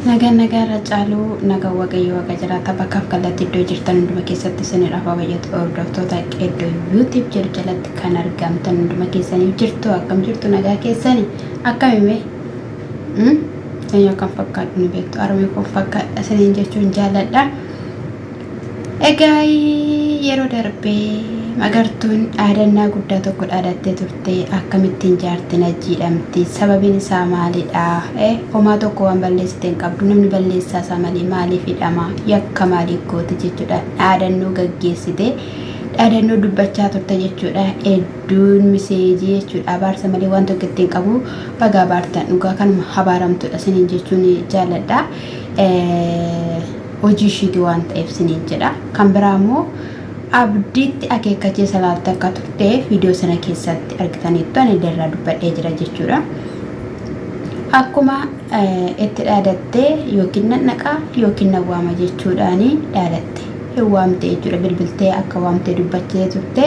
Nagaan nagaa irra caaluu nagaan waaqayyoo waaqa jiraata bakkaaf kallattii iddoo jirtan hunduma keessatti isinidhaaf baay'atu hordoftoota iddoo yuutib jedhu jalatti kan argamtan hunduma keessaniif jirtu akkam jirtu nagaa keessani akkamime sanyoo kan fakkaadhu ni beektu armee koo fakkaadha isiniin jechuun jaaladha. Egaa yeroo darbe magartuun dhaadannaa guddaa tokko dhaadattee turte akkamittiin jaartiin ajjiidhamti sababiin isaa maalidha eh homaa tokko waan balleessite hin qabdu namni balleessaa isaa malee maaliif hidhama yakka maalii goote jechuudha dhaadannoo gaggeessite dhaadannoo dubbachaa turte jechuudha hedduun miseejii jechuudha abaarsa malee waan tokko ittiin qabu bagaa baartan dhugaa kanuma habaaramtudha sinin jechuun jaaladha. hojii ishiiti waan ta'eef siniin jedha kan biraa immoo abdiitti akeekkachiisa laatte akka turte viidiyoo sana keessatti argitaniittu ani illee irraa dubbadhee jira jechuudha. Akkuma itti dhaadattee yookiin nan dhaqaa yookiin nan waama jechuudhaan dhaadatte hin waamte jechuudha bilbiltee akka waamtee dubbachee turte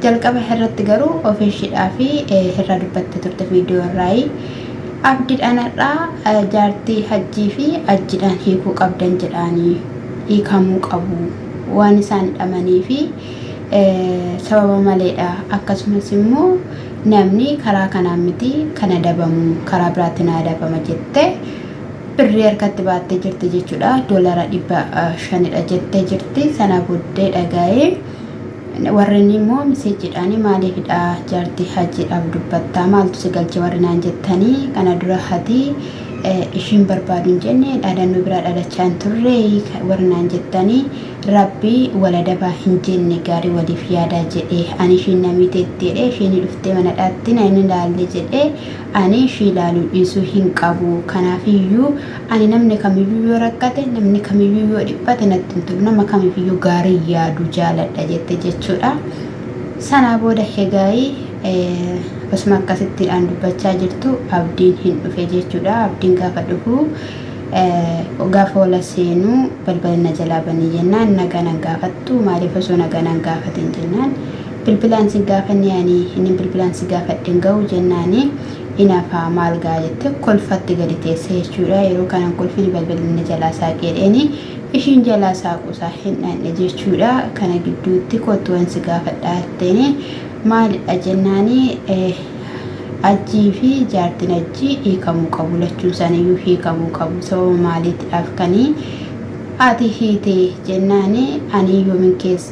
jalqaba irratti garuu ofiishiidhaa fi irraa dubbattee turte viidiyoo irraa Abdidhan hadhaa jaartii hajjii fi ajjidhaan hiikuu qabdan jedhaani hiikamuu qabu waan isaan dhamanii fi sababa maleedha akkasumas immoo namni karaa kanaan miti kana dabamu karaa biraatti naa dabama jette birrii harkatti baattee jirti jechuudha doolara dhibba shanidha jettee jirti sana boddee dhagaa'ee Warreen immoo misejjiidhaan maaliif hidha jaartii hajiidhaaf dubbattaa maaltu si galche warri naan jettanii kana dura hati ishiin barbaadu hin jenne dhaadannoo biraa dhaadachaa hin turre warri naan jettanii rabbi waladabaa hin jenne gaarii waliif yaadaa jedhe ani ishiin namiiteetti jedhe ishiin dhuftee manadhaatti na hin ilaalle jedhe Ani ishii ilaaluu dhiisuu hin qabu. Kanaaf iyyuu ani namni kamiyyuu yoo rakkate, namni kamiyyuu yoo dhiphate natti hin tolu. Nama kamiif iyyuu gaarii yaadu jaaladha jette jechuudha. Sanaa booda hegaayi osuma akkasittiidhaan dubbachaa jirtu abdiin hin dhufe jechuudha. Abdiin gaafa dhufu gaafa wala seenuu balbala na jalaa banii jennaan nagaa nan gaafattu maaliif osoo nagaa nan gaafatin jennaan bilbilaan si gaafanne ani inni bilbilaan si gaafadhe hin ga'u jennaani inafaa maal ga'a jette kolfatti gadi teesse jechuudha yeroo kanaan kolfini balbalinni jalaa saaqeedheeni ishiin jalaa saaquusaa hin dhandhe jechuudha kana gidduutti kottuwan si gaafadhaa jetteeni maalidha jennaani ajjii fi jaartiin ajjii hiikamuu qabu lachuun isaaniiyyuu hiikamuu qabu sababa maaliitiidhaaf kanii ati hiite jennaani ani yoomin keessa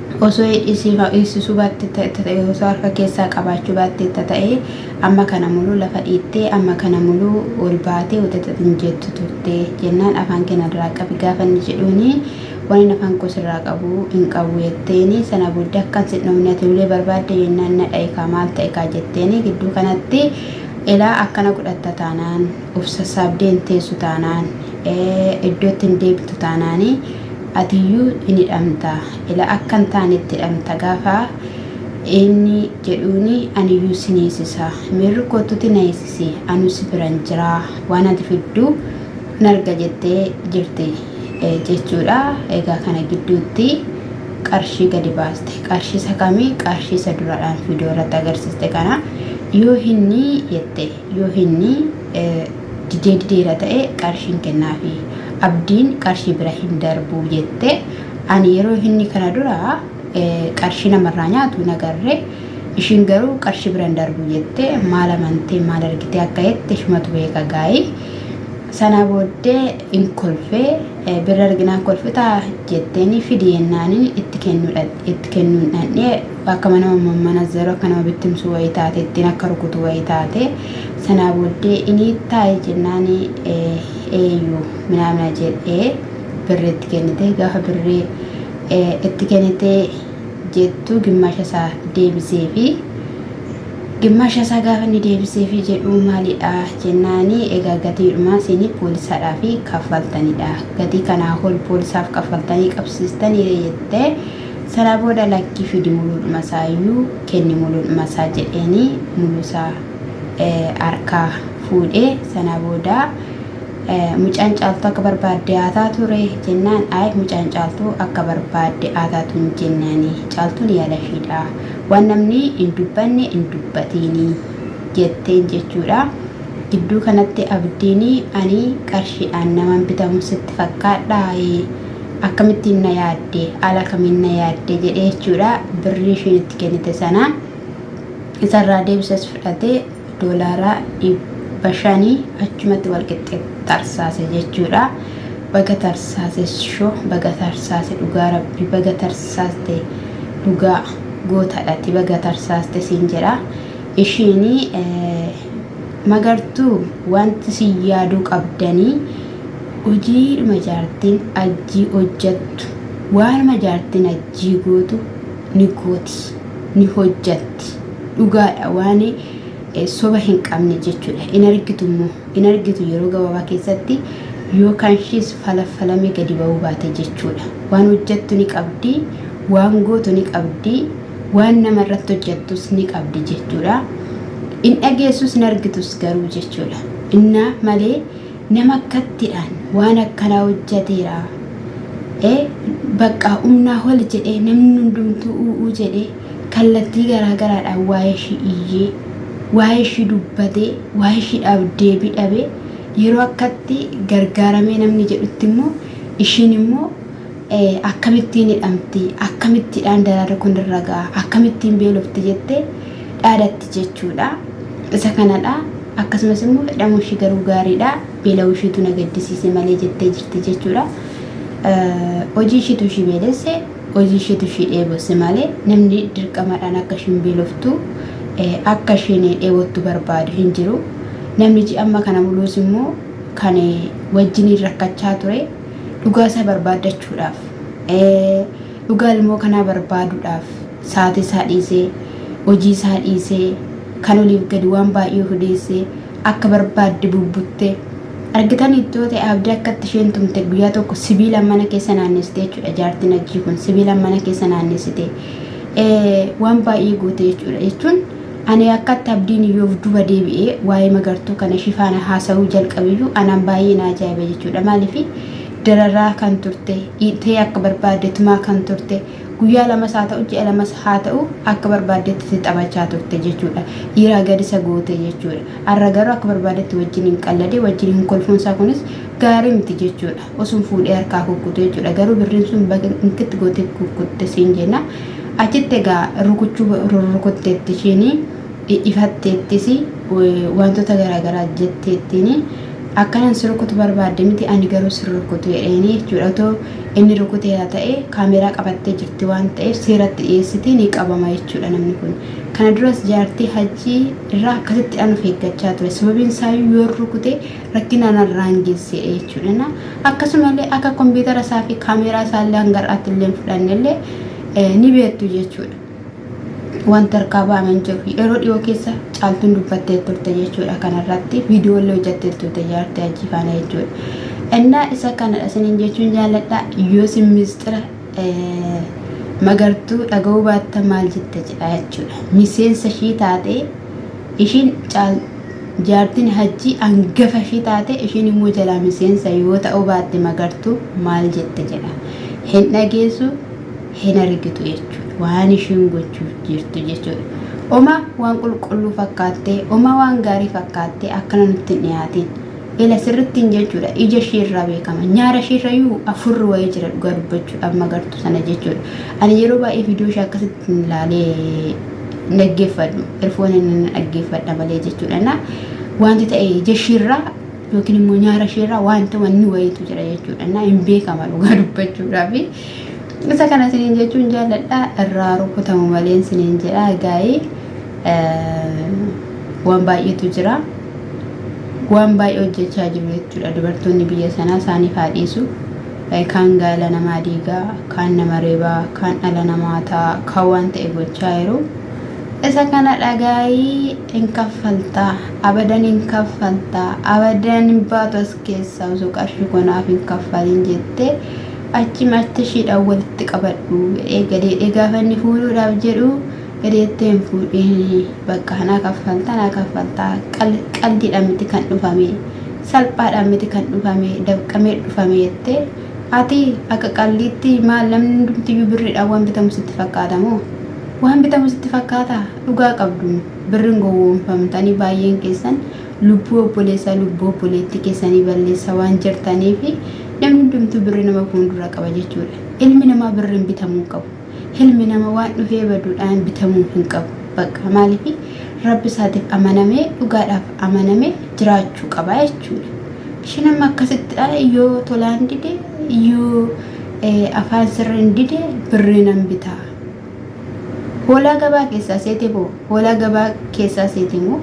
Osoo hidhii sii kan hiiksisuu baatte ta'e osoo harka keessaa qabaachuu baatte ta'e amma kana muluu lafa dhiittee amma kana muluu ol baatee uxuxux hin jettu turte jennaan afaan kee narraa qabi gaafa inni jedhuuni wanin afaan koo sirraa qabu hin qabu jetteeni sana booddee akkan sin dhofne ati ulee barbaadde jennaan na dha'i kaa maal ta'e kaa jetteeni gidduu kanatti ilaa akkana godhatta taanaan of sassaabdee hin teessu taanaan iddootti hin deebitu taanaani Atiyyuu in hidhamta, ila akka hin taanetti hidhamta gaafa inni jedhuuni aniyyuu sin hiisisa. Miirri koottuti na hiisisi, anuu si biran jira, waan ati fiddu in arga jettee jirti jechuudha. Egaa kana gidduutti qarshii gadi baaste. Qarshii isa kami? Qarshii isa duraadhaan viidiyoo irratti agarsiiste kana. Yoo hinni jette, yoo hinni didee dideera ta'e qarshiin kennaafi. Abdiin qarshii bira hin darbu jette. Ani yeroo hinni kana dura qarshii namarraa nyaatu hin agarre. Ishiin garuu qarshii bira hin darbu jette. Maal amantee maal argitee akka jette ishumatu beeka gaayi. Sanaa booddee in kolfe birra arginaan kolfitaa jetteeni fidi jennaaniin itti kennuun dhandhee Akkama nama mammanazaru, akka nama bittimsu wayii taate, ittiin akka rukutu wayii taate. Sanaa booddee ini taa'i jennaani eeyyu minaamina jedhee birri itti kennite. Gaafa birri itti kennite jettu gimmaasha isaa deebiseefi. Gimmaasha isaa gaafa inni deebiseefi jedhu maalidha jennaani egaa gatiidhuma isin poolisaadhaafi kaffaltanidha. Gatii kanaa ol poolisaaf kaffaltanii qabsiistaniire jette. Sana booda lakki fidi muluudhuma isaa iyyuu kenni muluudhuma isaa jedheenii muluu isaa harkaa fuudhee sana booda mucaan caaltuu akka barbaadde haa taatu ree jennaan ayi mucaan caaltuu akka barbaadde haa taatu hin jenneeni caaltuun yaalafiidha waan namni hin dubbanne hin dubbatiini jetteen jechuudha gidduu kanatti abdiini ani qarshiidhaan naman bitamu sitti fakkaadhaa akkamittiin na yaadde haala kamiin na yaadde jedhee jechuudha birrii ishiin itti kennite sana isarraa deebisas fudhatee doolaaraa dhibba shanii achumatti walqixxee tarsaase jechuudha. Baga tarsaase sho baga tarsaase dhugaa rabbi baga tarsaaste dhugaa gootadhati baga tarsaaste siin jedha ishiin Magartuu wanti si yaaduu qabdani hojiidhuma jaartiin ajjii hojjattu waanuma jaartiin ajjii gootu ni gooti ni hojjatti dhugaadha waan soba hin qabne jechuudha hin argitu immoo hin argitu yeroo gabaabaa keessatti yoo kanshiis falaffalamee gadi ba'uu baate jechuudha waan hojjattu ni qabdi waan gootu ni qabdi Waan nama irratti hojjattus ni qabdi jechuudha. In dhageessus hin argitus garuu jechuudha. Innaa malee nama akkattidhaan waan akkanaa hojjateera. E baqqaa umnaa hol jedhee namni hundumtuu u'uu jedhee kallattii garaa garaadhaan waa'ee ishii iyyee waa'ee ishii dubbatee waa'ee ishiidhaaf deebii dhabee yeroo akkatti gargaaramee namni jedhutti immoo ishiin immoo ee akkamittiin hidhamti, akkamittidhaan dararri kun irra ga'a, akkamittiin beelofti jettee dhaadatti jechuudha. Isa kanadha. Akkasumas immoo hidhamuu ishii garuu gaariidha. Beela'uu ishiitu na gaddisiise malee jettee jirti jechuudha. Hojii ishiitu ishii beelesse, hojii ishiitu ishii dheebosse malee namni dirqamaadhaan akka ishiin beeloftu akka ishiin dheebottu barbaadu hin jiru. Namni ji'a amma kana muluus immoo kan wajjiniin rakkachaa ture Dhugaa isaa barbaaddachuudhaaf, dhugaa ilmoo kanaa barbaaduudhaaf saatii isaa dhiisee, hojii isaa dhiisee, kan oliif gadi waan baay'ee of odeessee akka barbaadde bubbuttee argitaniitti yoo ta'e abdii akkatti isheen tumte guyyaa tokko sibiila mana keessa naannessite jechuudha jaartiin hajjii kun sibiila mana keessa naannessite waan baay'ee goote jechuudha jechuun Ani akkatti Abdiin Iyyoof duba deebi'ee waa'ee Magartuu kana ishii faana haasa'uu jalqabeyyuu anaan baay'ee na ajaa'ibe jechuudha. Maaliif dararaa kan turte, dhiitee akka barbaadde tumaa kan turte, guyyaa lamas haa ta'u ji'a lamas haa ta'u akka barbaaddetti itti taphachaa turte jechuudha. Dhiiraa gad isa goote jechuudha. Har'a garuu akka barbaaddetti wajjin hin qalladee wajjin hin kolfuunsaa kunis gaarii miti jechuudha. osun fuudhee harkaa kukkutu jechuudha garuu birriin sun baga inkitti gootee kukkutte siin jenna achitti egaa rukuchuu rurrukutteetti ishiin ifatteettis wantoota garaagaraa jetteettiin akkanan si rukutu barbaadde miti ani garuu si rukutu jedheenii jechuudha otoo inni rukuteera ta'e kaameeraa qabattee jirti waan ta'eef seeratti dhiyeessiti ni qabama jechuudha namni kun kana duras jaartii hajjii irraa akkasitti an of eeggachaa ture sababiin isaayyuu yoo rukute rakkina narraan geesseedha jechuudha. Akkasumallee akka kompiitara isaa fi kaameeraa isaa illee hanga har'aatti illee hin fudhanne illee ni beektu jechuudha. Wanti harkaa ba'ame hin jiru. Yeroo dhiyoo keessa caaltuun dubbattee turte jechuudha kanarratti. Viidiyoo illee hojjattee turte jaartii hajjii faana jechuudha. Innaa isa kanadha isiniin jechuun jaalladha. Yoo isin miistira magartuu dhaga'uu baatta maal jetta jedha jechuudha. Miseensa ishii taatee ishiin caaltuu. Jaartiin Hajjii angafa ishii taate ishiin immoo jalaa miseensa yoo ta'uu baatte Magartuu maal jette jedha. Hin dhageessu hin argitu jechuudha. Waan ishiin gochuuf jirtu jechuudha. Oma waan qulqulluu fakkaattee, oma waan gaarii fakkaattee akkana nutti hin dhiyaatiin. Ila sirrittiin jechuudha. Ija ishii irraa beekama. Nyaara ishii irrayyuu afurri wayii jira dhugaa dubbachuudhaaf magartuu sana jechuudha. Ani yeroo baay'ee viidiyoo ishee akkasitti laalee hin dhaggeeffadhu erfooniin nan dhaggeeffadha malee jechuudhaan wanti ta'e ija ishiirraa yookiin immoo nyaara ishiirraa wanta wanni wayiitu jira jechuudhaan hin beekama dhugaa dubbachuudhaaf isa kana isiniin jechuun jaalladha irraa rukutamu malee isiniin jedha gaa'ee waan baay'eetu jira waan baay'ee hojjechaa jiru jechuudha dubartoonni biyya sanaa isaaniif haa dhiisu. Kaan gaala namaa diiga, kaan nama reeba, kaan dhala namaa ta'a, kaan waan ta'e gochaa jiru. Isa kana dhagaayii hin kaffaltaa, abadan hin kaffaltaa, abadan hin baatu as keessaa osoo qarshii konaaf hin kaffalin jettee achi martishiidhaan walitti qabadhu jedhee gadeedhee gaafa inni fuudhuudhaaf jedhu gadeettee hin fuudhiin bakka kanaa kaffaltaa naa kaffaltaa qaldiidhaan miti kan dhufamee. salphaadhaan miti kan dhufame dafqamee dhufame jette ati akka qalliitti maal namni hundumtiyyuu birriidhaan waan bitamu sitti fakkaata moo waan bitamu sitti fakkaata dhugaa qabdu birrin gowwoomfamtanii baay'een keessan lubbuu obboleessaa lubbuu obboleettii keessanii balleessa waan jirtanii fi namni hundumtuu birri nama fuundura qaba jechuudha ilmi namaa birriin bitamuu qabu Hilmi nama waan dhufee baduudhaan bitamuu hin qabu. Bakka maaliifi rabbi isaatiif amanamee dhugaadhaaf amanamee jiraachuu qaba jechuudha. Ishiin amma akkasittidha yoo tolaan dide yoo afaan sirriin dide birrii nan bitaa. Hoolaa gabaa keessaa seete boo hoolaa gabaa keessaa seete moo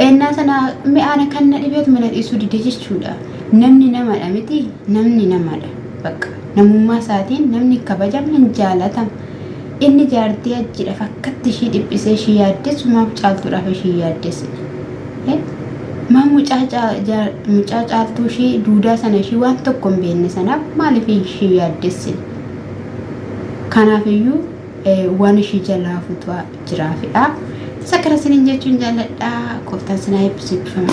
ennaa sana mi'aana kan na dhibeetu mana dhiisuu dide jechuudha. Namni namadha miti namni namadha. Bakka namummaa isaatiin namni kabajame hin jaalatamu. Inni jaartii hajjiidhaaf akkatti ishii dhiphisee ishii yaaddessu maaf caaltuudhaaf ishii yaaddessine? Maaf mucaa caa- jaa- mucaa caaltuu ishii duudaa sana ishii waan tokko hin beekne sanaaf maaliif ishii yaaddessine? Kanaafiyyuu eh, waan ishii jalaa fuutu jiraafidha. Isa kana isiniin jechuun jaalladha. Gooftaan sinaa eebbisu eebbifama.